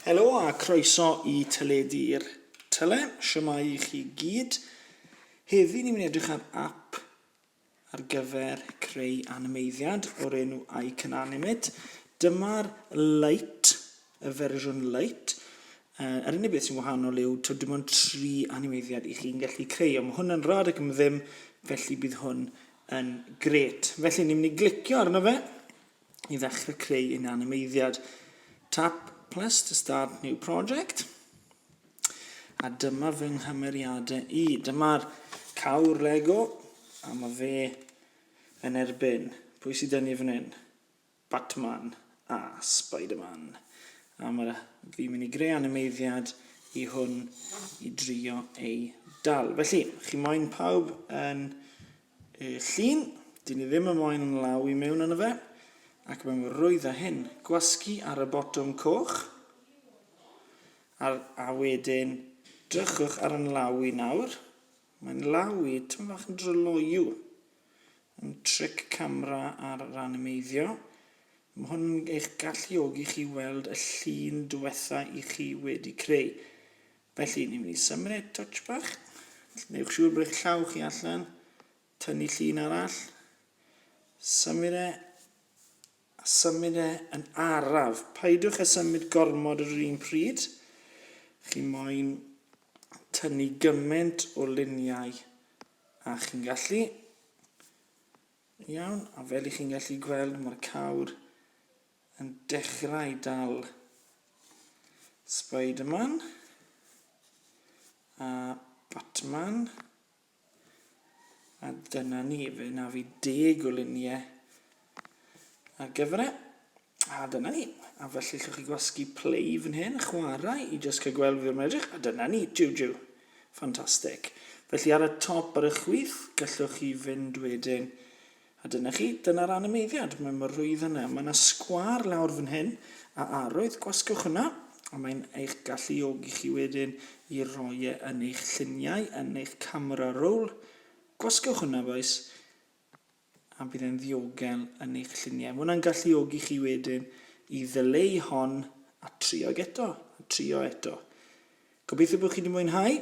Helo a croeso i Teledu'r Tyle. Siamau i chi gyd. Heddi ni'n mynd edrych ar app ar gyfer creu animeiddiad o'r enw I Can Animate. Dyma'r light, y fersiwn light. Uh, yr unig beth sy'n wahanol yw to dim ond tri animeiddiad i chi'n gallu creu. Ond mae hwn yn rad ac yn ddim, felly bydd hwn yn gret. Felly ni'n mynd i glicio arno fe. i ddechrau creu un animeiddiad. Tap plus to start new project. A dyma fy nghymeriadau i. Dyma'r cawr Lego a mae fe yn erbyn. Pwy sydd dynnu fan hyn? Batman a Spider-Man. A mae fi'n mynd i greu animeiddiad i hwn i drio ei dal. Felly, chi moyn pawb yn Y llun, dyn ni ddim yn moyn yn law i mewn yno fe, ac mae'n rwydd a hyn. Gwasgu ar y botwm coch, a'r, a wedyn drychwch ar yn law i nawr. Mae'n law i, tymyn fach yn dryloyw. Yn tric camera ar yr animeiddio. Mae hwn yn eich galluogi chi weld y llun diwetha i chi wedi creu. Felly, ni'n mynd i symud touch bach. Newch siŵr bod eich llaw chi allan. Tynnu llun arall. Symud e. A symud e yn araf. Paidwch a symud gormod yr un pryd. Chi moyn tynnu gymaint o luniau a chi'n gallu. Iawn, a fel i chi'n gallu gweld mae'r cawr yn dechrau dal Spiderman a Batman a dyna ni, fe na fi deg o luniau ar gyfer e. A dyna ni. A felly llwch chi gwasgu play fan hyn, chwarae i jyst cael gweld fi o'r edrych. A dyna ni, jiw jiw. Ffantastig. Felly ar y top ar y chwith, gallwch chi fynd wedyn A dyna chi, dyna'r animeiddiad. Mae mor rwydd yna. Mae yna sgwâr lawr fan hyn, a arwydd, gwasgwch hwnna, a mae'n eich galluogi chi wedyn i roi e yn eich lluniau, yn eich camera roll. Gwasgwch hwnna, bois, a bydd e'n ddiogel yn eich lluniau. Mae hwnna'n galluogi chi wedyn i ddyleu hon a trio'g eto, a trio eto. Gobeithio bod chi wedi mwynhau.